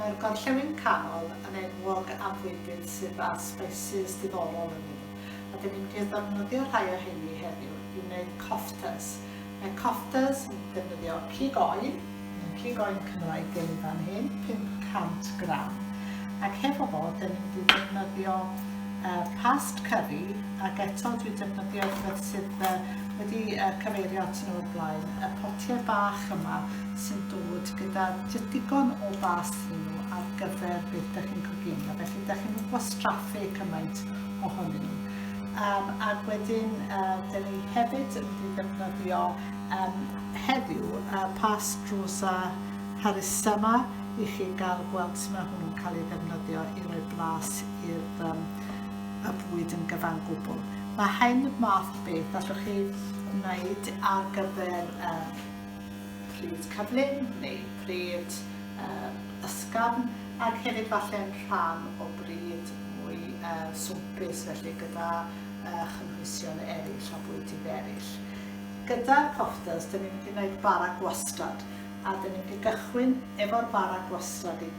Mae'r gorllewin canol yn enwog am fwydydd sydd â sbeisys diddorol yn nhw, a dyn ni'n mynd i ddefnyddio rhai o heini heddiw i wneud koftas. Mae koftas yn defnyddio cig oen, neu cig oen Cymraeg gen i fan hyn, 500 gram, ac hefo fo dyn ni'n mynd i ddefnyddio uh, past curry, ac eto dwi'n defnyddio rhywbeth sydd uh, wedi uh, cyfeirio at nhw o'r blaen, y potiau bach yma sy'n dod gyda digon o bas iddyn nhw ar gyfer beth ydych chi'n coginio, felly ydych chi'n mynd gwastraffu cymaint ohonyn nhw. Um, ac wedyn, uh, dyn ni hefyd yn mynd ddefnyddio um, heddiw uh, pas drws a harus yma i chi gael gweld sut mae hwnnw'n cael ei ddefnyddio i roi blas i'r um, y bwyd yn gyfan gwbl. Mae hyn math beth allwch chi wneud ar gyfer uh, pryd cyflym neu pryd ysgafn ac hefyd falle yn rhan o bryd mwy swmpus felly gyda chynhwysion eraill a bwydydd eraill. Gyda'r coffdust dyn ni'n mynd i wneud bara gwastad a dyn ni'n mynd i gychwyn efo'r bara gwastad i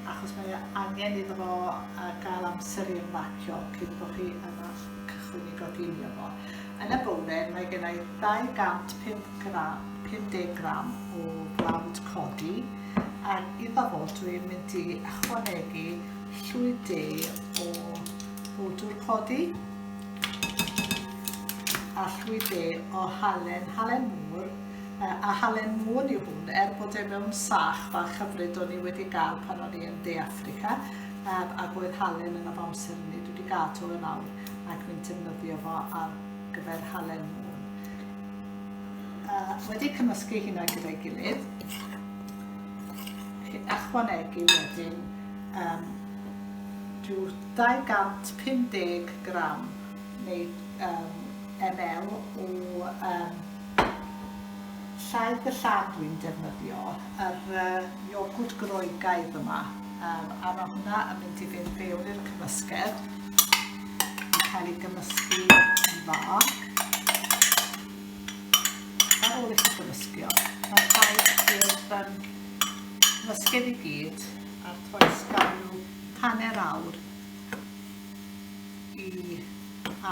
achos mae angen iddo fo gael amser i ymlacio cyn bod chi yn cychwyn i goginio fo. Yn y bore mae gennai 250 gram o blawd codi ac iddo fo dwi'n mynd i ychwanegu llwy de o bwdwr codi a llwy de o halen, halen mŵr a halen mŵn yw hwn er bod e mewn sach fach hyfryd o'n i wedi gael pan o'n i yn De Africa ac oedd halen yn y amser hynny dwi wedi gadw yn awr. ac fi'n defnyddio fo ar gyfer halen môn. Uh, wedi cymysgu hynna gyda'i gilydd, chi ychwanegu wedyn um, rhyw 250 gram neu um, ml o um, llaeth y llad dwi'n defnyddio, yr uh, iogwrt groegaidd yma. Um, a mae hwnna yn mynd i fynd fewn i'r cymysgedd. Yn cael ei gymysgu yn dda. Ar ôl i chi gymysgio, mae'n rhaid i'r um, cymysgedd i gyd a'r toes gael nhw hanner awr i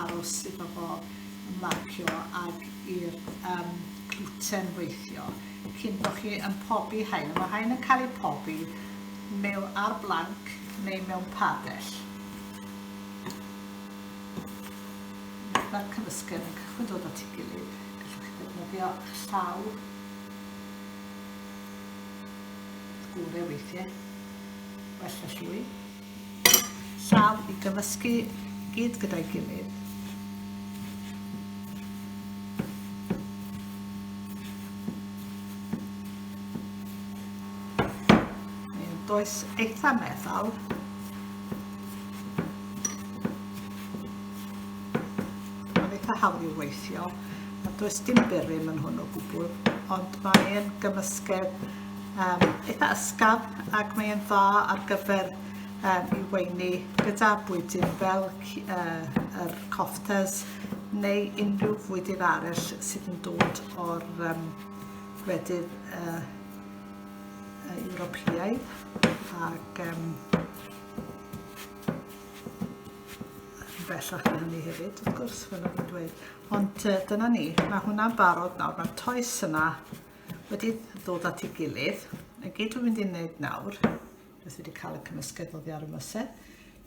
aros iddo fo marcio ag i'r um, gluten weithio. cyn bod chi yn pobi haen. Mae haen yn cael ei pobi mewn ar blanc neu mewn padell. Mae'r cymysgedd yn cychwyn dod at ei gilydd. Gallwch chi ddefnyddio llaw gore weithiau. Well y llwy. Llaw i gyfysgu gyd gyda'i gilydd. Does eitha meddal. Mae'n eitha hawdd i'w weithio. Does dim byrym yn hwn o gwbl, ond mae'n gymysgedd um, eitha ysgafn ac mae e'n dda ar gyfer um, i weini gyda bwydyn fel uh, yr coftes neu unrhyw fwydyn arall sydd yn dod o'r um, gwledydd uh, Ewropeaidd ac um, bellach na hynny hefyd, wrth gwrs, fel o'n i'n dweud. Ond uh, dyna ni, mae hwnna'n barod nawr, mae'r toes yna, Wedi ddod at ei gilydd. Y gyd dwi'n mynd i wneud nawr, beth wedi cael y cymysgedd oddi ar y mysen,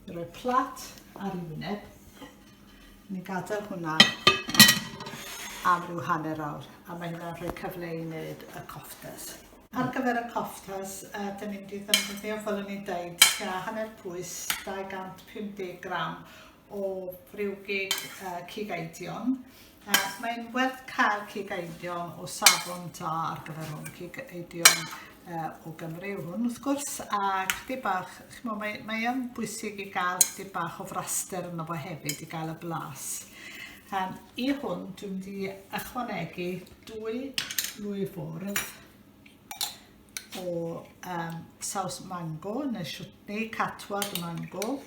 i roi plat ar ei wyneb. Ni'n gadael hwnna am ryw hanner awr, a mae hynna'n rhoi cyfle i wneud y coftas. Ar gyfer y coftas, uh, dyn ni'n mynd i ddefnyddio, fel o'n i'n dweud, tua hanner pwys, 250 gram o briwgig uh, cig eidion, Ac mae'n werth cael cig eidion o safon da ar gyfer hwn. Cig eidion uh, o Gymru yw hwn, wrth gwrs, a chdi bach, chimo, mae, mae yn bwysig i gael chdi bach o fraster yno fo hefyd, i gael y blas. Um, I hwn, dwi'n di ychwanegu dwy lwy fwrdd o um, saws mango, neu siwtni catwad mango,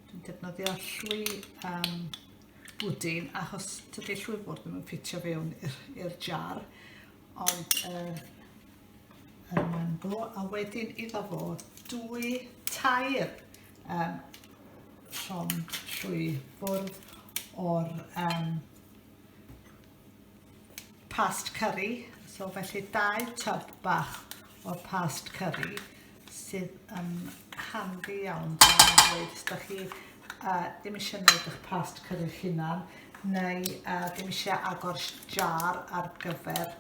Dwi'n defnyddio llwy um, bwdin achos tydi llwy bwrdd ddim yn ffitio fewn i'r jar ond uh, mae'n go a wedyn iddo fo dwy tair um, llond llwy bwrdd o'r um, past curry, so felly dau tyb bach o past curry sydd yn handi iawn os da chi uh, ddim eisiau gwneud eich past curry hunan neu uh, ddim eisiau agor jar ar gyfer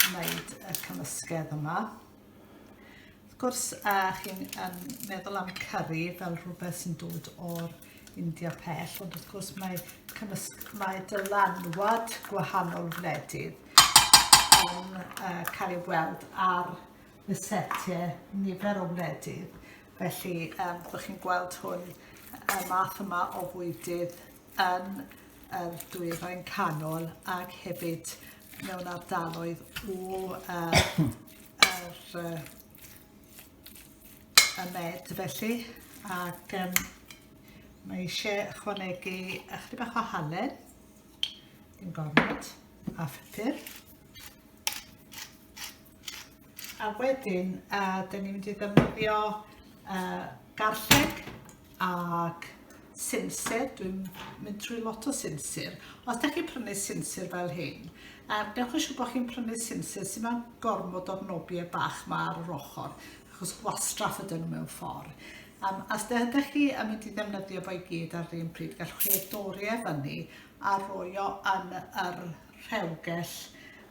wneud y cymysgedd yma. Wrth gwrs, a chi'n um, meddwl am curry fel rhywbeth sy'n dod o'r India pell, ond wrth gwrs mae, cymysg, mae dylanwad gwahanol wledydd yn uh, cael ei weld ar y setiau nifer o wledydd. Felly, um, byddwch chi'n gweld hwn y math yma o fwydydd yn yr dwyrain canol ac hefyd mewn ardaloedd o uh, er, uh, y med felly ac um, mae eisiau ychwanegu ychydig bach o halen yn gormod a phupur a wedyn uh, dyn ni'n mynd i ddefnyddio uh, garlleg ac sinsir, dwi'n mynd trwy lot o sinsir. Os da chi'n prynu sinsir fel hyn, er, dewch yn siŵr bod chi'n prynu sinsir sy'n mewn gormod o'r nobiau bach ma ar yr ochr, achos gwastraff ydyn nhw mewn ffordd. Um, os da chi yn mynd i ddefnyddio fo i gyd ar yr un pryd, gallwch chi ei dori e fyny a roi o yn yr rhewgell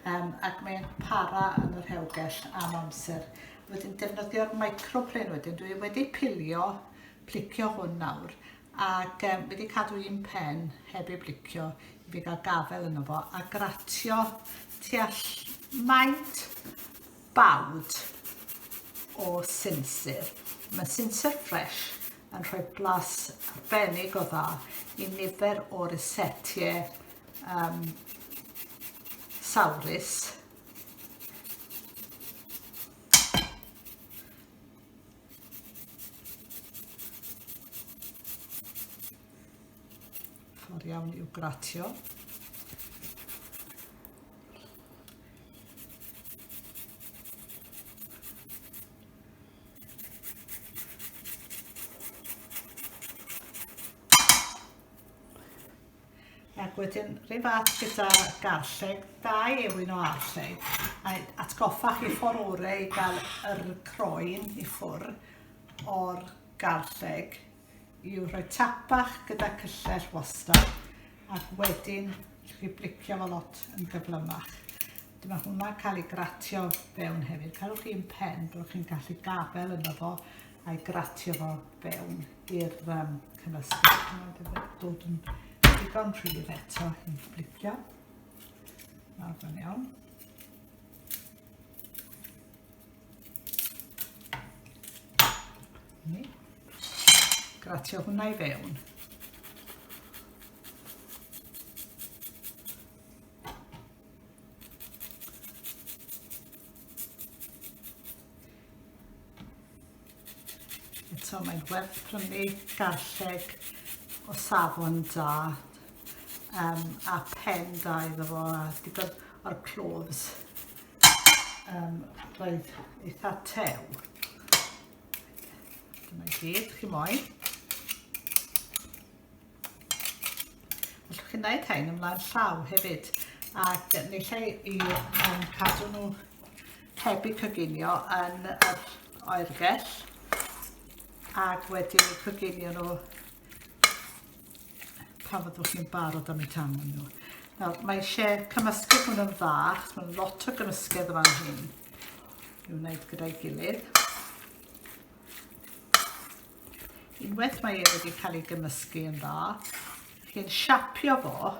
um, ac mae'n para yn y rhewgell am amser. Wedyn defnyddio'r microplane wedyn. Dwi wedi pilio, plicio hwn nawr, ac um, wedi cadw un pen heb ei blicio i fi gael gafel yno fo, a gratio all maint bawd o sinsir. Mae sinsir ffres yn rhoi blas arbennig o dda i nifer o resetiau um, sawrus. Ffordd iawn i'w gratio. Ac wedyn, rhywbeth fath gyda garlleg, dau ewyn o arlleg. A atgoffa chi ffordd orau i gael yr croen i ffwr o'r garlleg yw rhoi tapach gyda cyllell wastad ac wedyn chi blicio fo lot yn gyflymach. Dyma hwnna'n cael ei gratio fewn hefyd. Cadwch chi'n pen, byddwch chi'n gallu gafel yno fo a'i gratio fo fewn i'r um, cymysgedd. Mae wedi dod yn digon rhydd eto i flicio. Nawr fe'n iawn. Ni. Gratio hwnna i fewn. Eto mae'n werth prynu garlleg o safon da um, a pen da iddo fo a digon o'r cloves um, roedd eitha tew. Dyna gyd chi moyn. Allwch chi'n gwneud hyn ymlaen llaw hefyd ac ni lle i um, cadw nhw heb eu coginio yn yr oergell ac wedi eu coginio nhw pan fyddwch chi'n barod am eu tam nhw. Nawr, mae eisiau cymysgu hwn yn dda, achos mae'n lot o gymysgedd yma hyn i wneud gyda'i gilydd. Unwaith mae e wedi cael ei gymysgu yn dda, chi'n siapio fo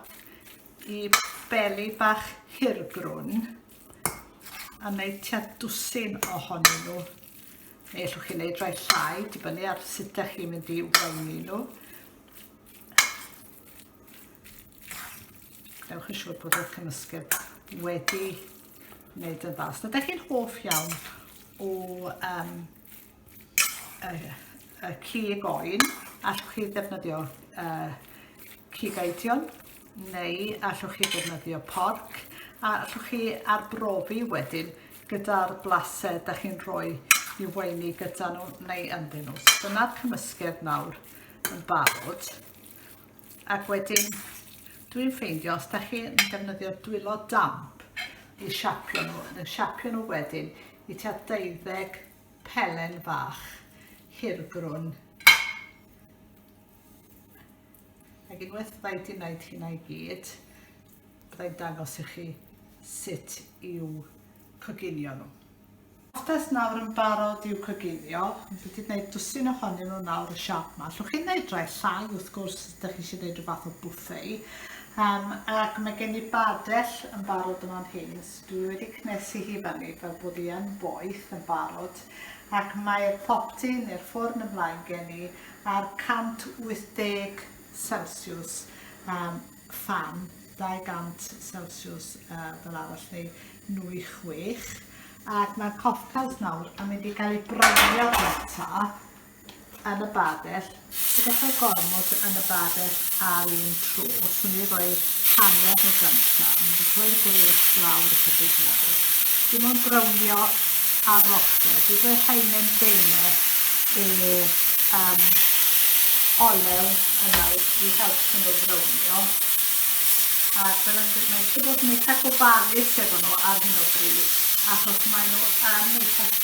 i beli bach hirgrwn a wneud tua dwsin ohonyn nhw. Neu allwch chi wneud rhai llai, dibynnu ar sut ydych chi'n mynd i wneud nhw. Gwnewch yn siŵr bod y cymysgedd wedi wneud yn dda. Os ydych chi'n hoff iawn o um, y, y cig oen, allwch chi ddefnyddio uh, cig eidion, neu allwch chi ddefnyddio porc, a allwch chi arbrofi wedyn gyda'r blased da chi'n rhoi i weini gyda nhw neu ynddyn nhw. So dyna'r cymysgedd nawr yn barod. Ac wedyn, dwi'n ffeindio, os da chi'n defnyddio dwylo damp i siapio nhw, yn siapio nhw wedyn i tua deuddeg pelen bach hirgrwn. Ac unwaith byddai wedi gwneud hynna i gyd, byddai dangos i chi sut i'w coginio nhw. Pastas nawr yn barod i'w coginio, fi wedi gwneud dwsin ohonyn nhw nawr y siap yma. Llwch chi'n gwneud rai llai wrth gwrs os ydych chi eisiau gwneud rhywbeth o bwffei. Um, ac mae gen i badell yn barod yma'n hyn, Dwi wedi cnesu hi fyny fel bod hi yn boeth yn barod ac mae'r popty neu'r ffwrn ymlaen gen i ar 180 celsiws am fan 200 celsiws fel arall neu nwy chwech ac mae'r coffels nawr yn mynd i gael eu browniau gynta yn y babell, ti gallu gormod yn y babell ar un tro, so ni roi hanner o gynta, ni wedi rhoi'r gwres lawr y chydig nawr. Dim ond brownio ar roster, dwi rhoi hainen deine o um, olew yna i helpu nhw brownio. A fel yn dweud, mae eisiau bod yn eitha gofalus efo nhw ar hyn o bryd, achos maen nhw yn eitha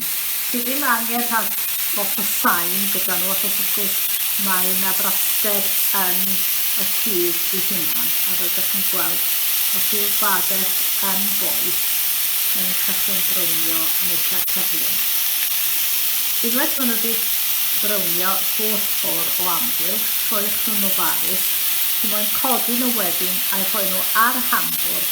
Ti ddim angen rhag lot o sain gyda nhw achos wrth gwrs mae na fraster yn y cudd i hunan a fel dych chi'n gweld os yw'r bades yn boeth mae nhw'n cychwyn brownio yn eitha cyflym. Unwaith maen nhw wedi brownio holl ffordd o amgylch rhoiwch nhw'n ofalus, chi moyn codi nhw wedyn a'u rhoi nhw ar y hambwr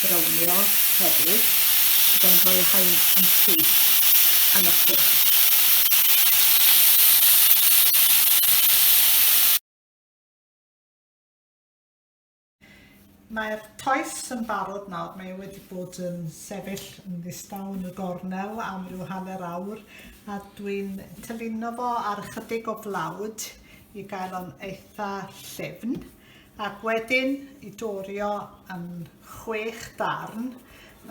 brownio hefyd, byddai'n rhoi y rhain yn syth am y ffwrn. Mae'r toes yn barod nawr, mae e wedi bod yn sefyll yn ddistaw yn y gornel am ryw hanner awr a dwi'n tylino fo ar ychydig o flawd i gael o'n eitha llifn ac wedyn i dorio yn chwech darn.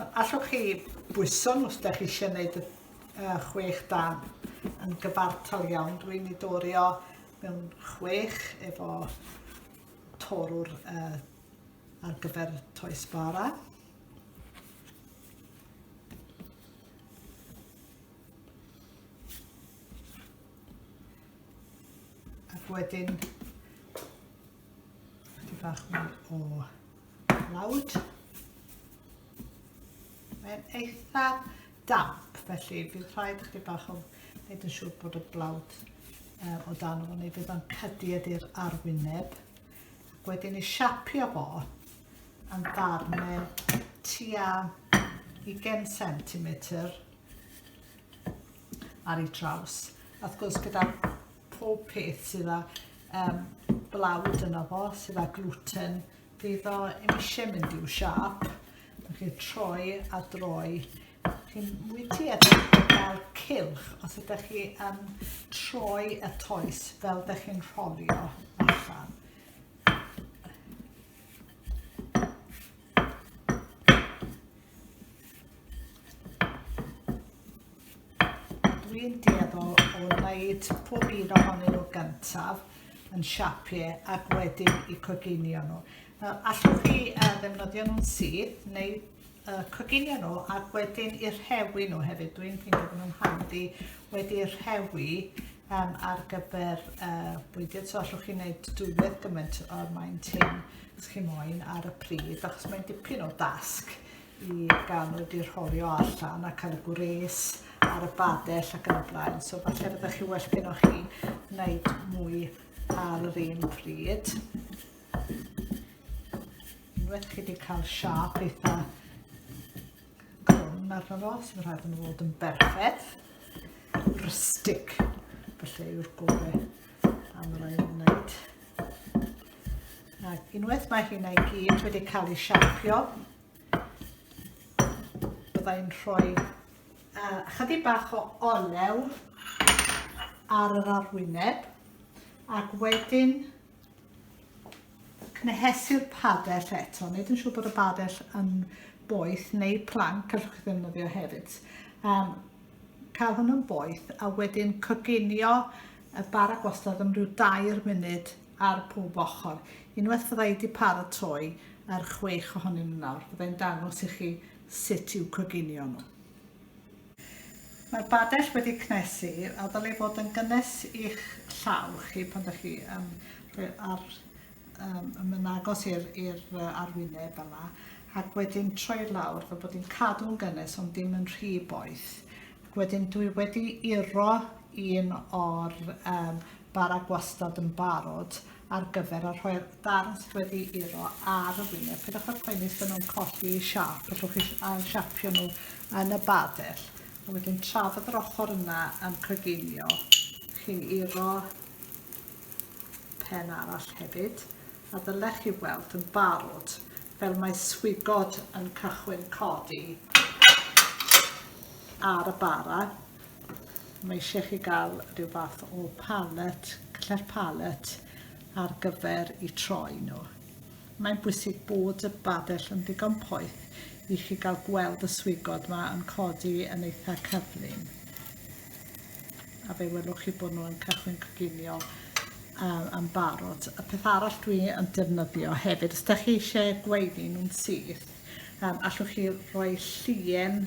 Allwch chi bwyso nhw os ydych chi eisiau gwneud y chwech darn yn gyfartal iawn. Dwi'n ei dorio mewn chwech efo torwr uh, ar gyfer toes bara. Ac wedyn, ydy bach mwy o lawd. Mae'n eitha damp, felly bydd rhaid chdi bach o wneud yn siŵr bod y blawd uh, o dan o'n ei fydd o'n cydu ydy'r arwyneb. Ac wedyn i siapio fo yn darnau tua 20 cm ar ei draws. Wrth gwrs gyda pob peth sydd â um, blawd yno fo, sydd â gluten, bydd o yn eisiau mynd i'w siap. Rwy'n chi'n troi a droi. Chi'n wedi edrych fel cilch os ydych chi yn troi y toes fel ydych chi'n rholio allan. Dwi'n deddol o wneud pob un ohonyn nhw gyntaf yn siapiau ac wedyn i coginio nhw. Nawr, allwch chi uh, ddefnyddio nhw'n syth neu uh, coginio nhw ac wedyn i'r rhewi nhw hefyd. Dwi'n ffeindio bod nhw'n handi wedi'r rhewi um, ar gyfer uh, bwydio. So allwch chi wneud dwywaith gymaint o'r maint hyn. os chi moyn ar y pryd achos mae'n dipyn o dasg i gael nhw wedi rholio allan a cael y gwres ar y badell ac yn y blaen so falle byddwch chi well gyda chi wneud mwy ar yr un pryd unwaith chi wedi cael siap eitha grwn arno fo sy'n rhaid yn fod yn berffaith rustic felly yw'r gorau am yr ail wneud Ac unwaith mae hynna i gyd wedi cael ei siapio, bydda i'n rhoi uh, chydig bach o olew ar yr arwyneb ac wedyn cnehesu'r padell eto. Nid yn siŵr bod y padell yn boeth neu planc allwch chi ddefnyddio hefyd. Um, cael hwnnw'n boeth a wedyn coginio y bara gwastad am rhyw dair munud ar pob ochr. Unwaith fyddai wedi paratoi yr chwech ohonyn nhw nawr, byddai'n dangos i chi sut i'w coginio nhw. Mae'r badell wedi cnesu a ddylai fod yn gynnes i'ch llaw chi pan ydych chi yn rhoi ar, um, yn agos i'r arwyneb fel yna ac wedyn troi lawr fel bod hi'n cadw'n gynnes ond ddim yn rhy boeth Wedyn dwi wedi uro un o'r um, bara gwastad yn barod ar gyfer a rhoi'r darn sydd wedi uro ar y wyneb. Pidwch â poeni os yna'n colli siap, allwch chi ail siapio nhw yn y badell. A wedyn tra fod yr ochr yna yn coginio, chi'n uro pen arall hefyd a ddylech chi weld yn barod fel mae swigod yn cychwyn codi ar y bara. Mae eisiau chi gael rhyw fath o pallet, cle'r pallet ar gyfer i troi nhw. Mae'n bwysig bod y badell yn ddigon poeth i chi gael gweld y swigod yma yn codi yn eitha cyflym. a fe welwch chi bod nhw'n cychwyn coginio um, yn barod. Y peth arall dwi yn defnyddio hefyd, os da chi eisiau gweini nhw'n syth, um, allwch chi roi llien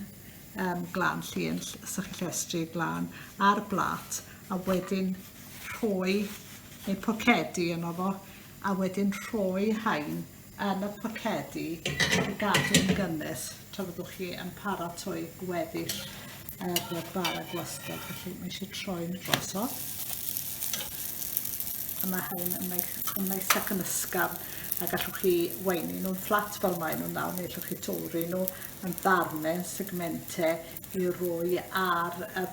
um, glan, llien sych llestri glan ar blat a wedyn rhoi neu pocedi yno fo a wedyn rhoi hain yn y pocedi i gadw'n gynnes tra fyddwch chi yn paratoi gweddill yr y bara gwastraff. Felly mae eisiau troi'n drosodd. A mae hyn yn neis, yn neis ac yn ysgafn a gallwch chi weini nhw'n fflat fel mae nhw'n nawr neu allwch chi torri nhw yn ddarnau, yn segmentau i roi ar y,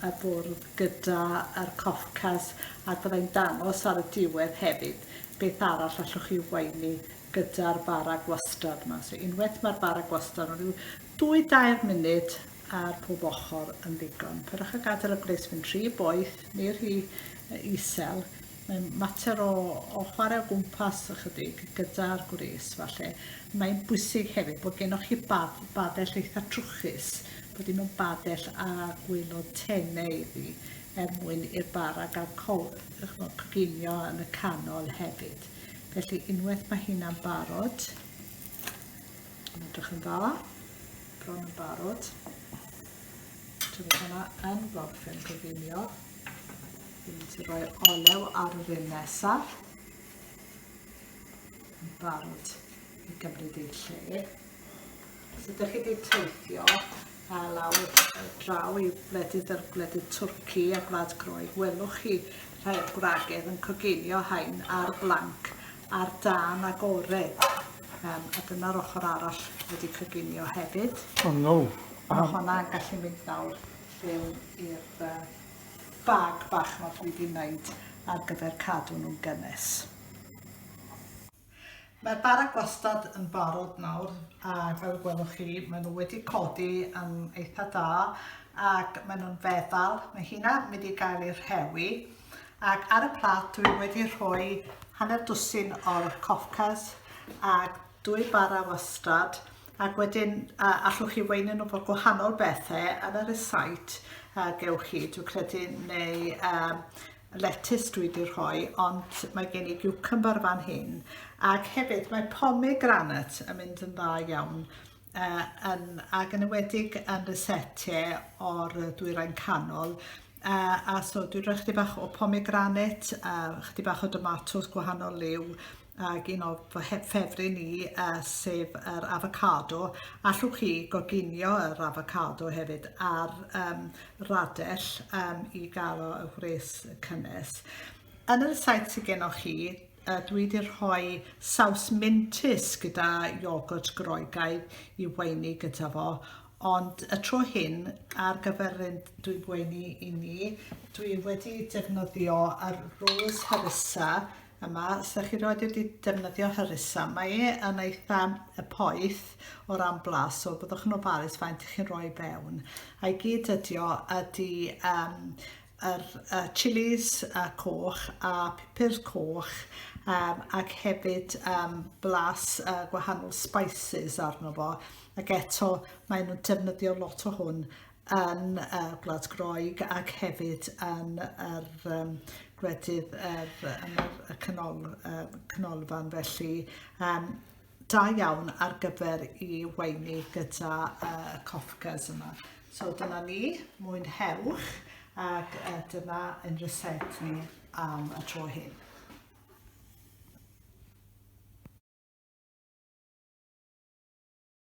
y bwrdd gyda'r coffcas ac byddai'n dangos ar y diwedd hefyd beth arall allwch chi waenu gyda'r bara gwastad yma. So unwaith mae'r bara gwastad yn rhyw dwy dair munud ar pob ochr yn ddigon. Pyrwch a gadael y gwres fynd rhy boeth neu rhy isel. Mae'n mater o, o chwarae o gwmpas ychydig gyda'r gwres falle. Mae'n bwysig hefyd bod gennych chi bad, badell eitha trwchus, bod dim yn badell a gwylod tenau iddi. er mwyn i'r bara gael cowp, ch'mod, coginio yn y canol hefyd. Felly unwaith mae hynna'n barod, yn edrych yn dda, bron yn barod, ti'n bod hwnna yn gorffen coginio, fi'n mynd i roi'r olew ar yr un nesaf, yn barod i gymryd ei lle. Os ydych chi wedi teithio uh, lawr uh, draw i wledydd yr wledydd Twrci a Gwlad Groeg, welwch chi rhai o'r gwragedd yn coginio hain ar blanc ar dan agored. Um, a dyna'r ochr arall wedi coginio hefyd. O oh, no. Mae um, hwnna'n gallu mynd nawr llewn i'r uh, bag bach mae dwi wedi wneud ar gyfer cadw nhw'n gynnes. Mae'r bara gwastad yn barod nawr ac fel y gwelwch chi maen nhw wedi codi yn eitha da ac maen nhw'n feddal. Mae hynna mynd i gael ei rhewi ac ar y plat dwi wedi rhoi hanner dwsin o'r cofcas ac dwy bara wastad ac wedyn uh, allwch chi weinu nhw bod gwahanol bethau yn yr esait uh, gewch chi, dwi'n credu, neu um, letys dwi wedi rhoi ond mae gen i giwcymbar fan hyn ac hefyd mae pomegranat yn mynd yn dda iawn uh, yn, ac yn ywedig yn y sete o'r dwyrain canol uh, a so dwi'n rhoi chdi bach o pomegranat, uh, chdi bach o domatos gwahanol liw ag un o fy ffefryn ni uh, sef yr avocado. Allwch chi goginio yr avocado hefyd ar um, radell um, i gael o y gwres cynnes. Yn y saith sydd gennych chi, uh, dwi wedi rhoi saws mintus gyda iogwrt groegaidd i weini gyda fo, ond y tro hyn ar gyfer un dwi'n gweini i ni, dwi wedi defnyddio ar rose harissa Yma, os ydych chi rioed wedi defnyddio Hyrisa, mae e yn eitha poeth o ran blas, so byddwch yn ofalus faint chi'n rhoi fewn. A'i gyd ydi o ydi um, yr uh, chilis uh, coch a pupur coch um, ac hefyd um, blas uh, gwahanol spices arno fo ac eto maen nhw'n defnyddio lot o hwn yn y Gwlad Groeg ac hefyd yn yr um, gwledydd er, yn y canol, uh, canolfan felly um, da iawn ar gyfer i weini gyda uh, coffgas yma. So dyna ni, mwynhewch ac uh, dyna yn reset ni am y tro hyn.